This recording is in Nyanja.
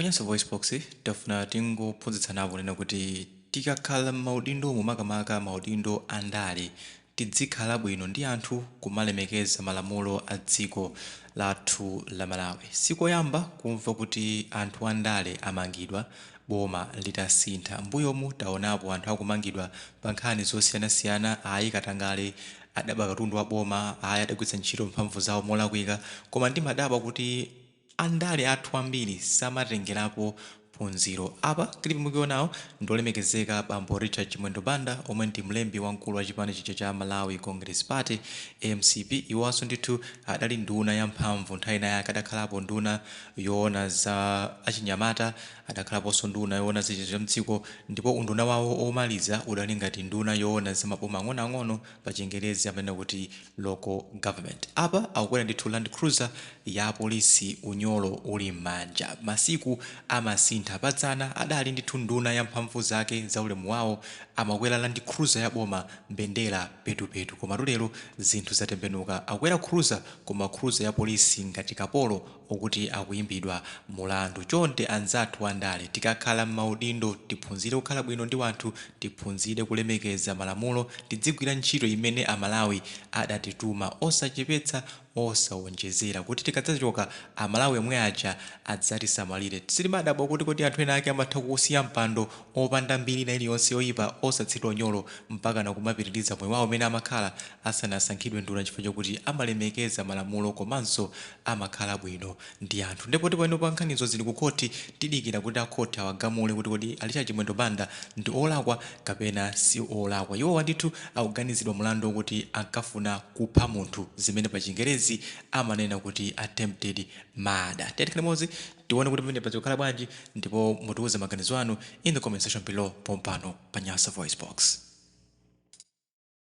Pa Nyasa VoiceBox, tafuna tingophunzitsanapo kunena kuti tikakhala m'maudindomu makamaka maudindo a ndale, tidzikhala bwino ndi anthu, kumalemekeza malamulo a dziko lathu la Malawi. Si koyamba kumva kuti anthu a ndale amangidwa boma litasintha. M'mbuyomu taonapo anthu akumangidwa pa nkhani zosiyanasiyana, ayi katangale, adaba katundu wa boma, ayi adagwiritsa ntchito mphamvu zawo molakwika. Koma ndimadabwa kuti. Andale athu ambiri samatengerapo phunziro. Apa clip mukionawo ndi olemekezeka bambo Richard Chimwendo Banda omwe ndi mlembi wamkulu wa chipani cha Malawi Congress Party, mcp, iwonso ndithu adali nduna ya mphamvu nthawi inayake, adakhalapo nduna yoona za achinyamata, adakhalaponso nduna yoona za mdziko ndipo unduna wawo omaliza udali ngati nduna yoona za maboma ang'onoang'ono, pa chingerezi amanena kuti local government. Apa akukwera ndithu land cruiser ya polisi unyolo uli mmanja. Masiku amasintha. Pa dzana adali ndithu nduna ya mphamvu zake za ulemu wawo amakwera land cruiser ya boma mbendera petupetu. Koma lero zinthu zatembenuka. Akukwera cruiser koma cruiser ya polisi ngati kapolo okuti akuyimbidwa mulandu chonde anzathu andale tikakhala mmaudindo tiphunzire kukhala bwino ndi wanthu tiphunzire kulemekeza malamulo tidzigwira ntchito imene amalawi adatituma osachepetsa osawonjezera kuti tikadzachoka amalawi omwe aja adzatisamalire sitimadabwa kuti kodi anthu ena ake amatha kuwusiya mpando opanda mbiri ina iliyonse yoyipa osathiridwa unyolo mpaka nakumapitiliza moyo wawo umene amakhala asanasankhidwe nduna chifukwa chokuti amalemekeza malamulo komanso amakhala bwino ndi anthu nde poti panopa nkhanizo zili ku khothi tidikira kuti a khothi awagamule kuti kodi a Richard Chimwendo Banda ndi olakwa kapena si olakwa. Iwowa ndithu akuganizidwa mlandu okuti ankafuna kupha munthu zimene pa chingerezi amanena kuti attempted murder. Tiyeni tikhale limodzi tione kuti pamenepa zikukhala bwanji ndipo mutiuze maganizo anu in the comment section below pompano pa Nyasa VoiceBox.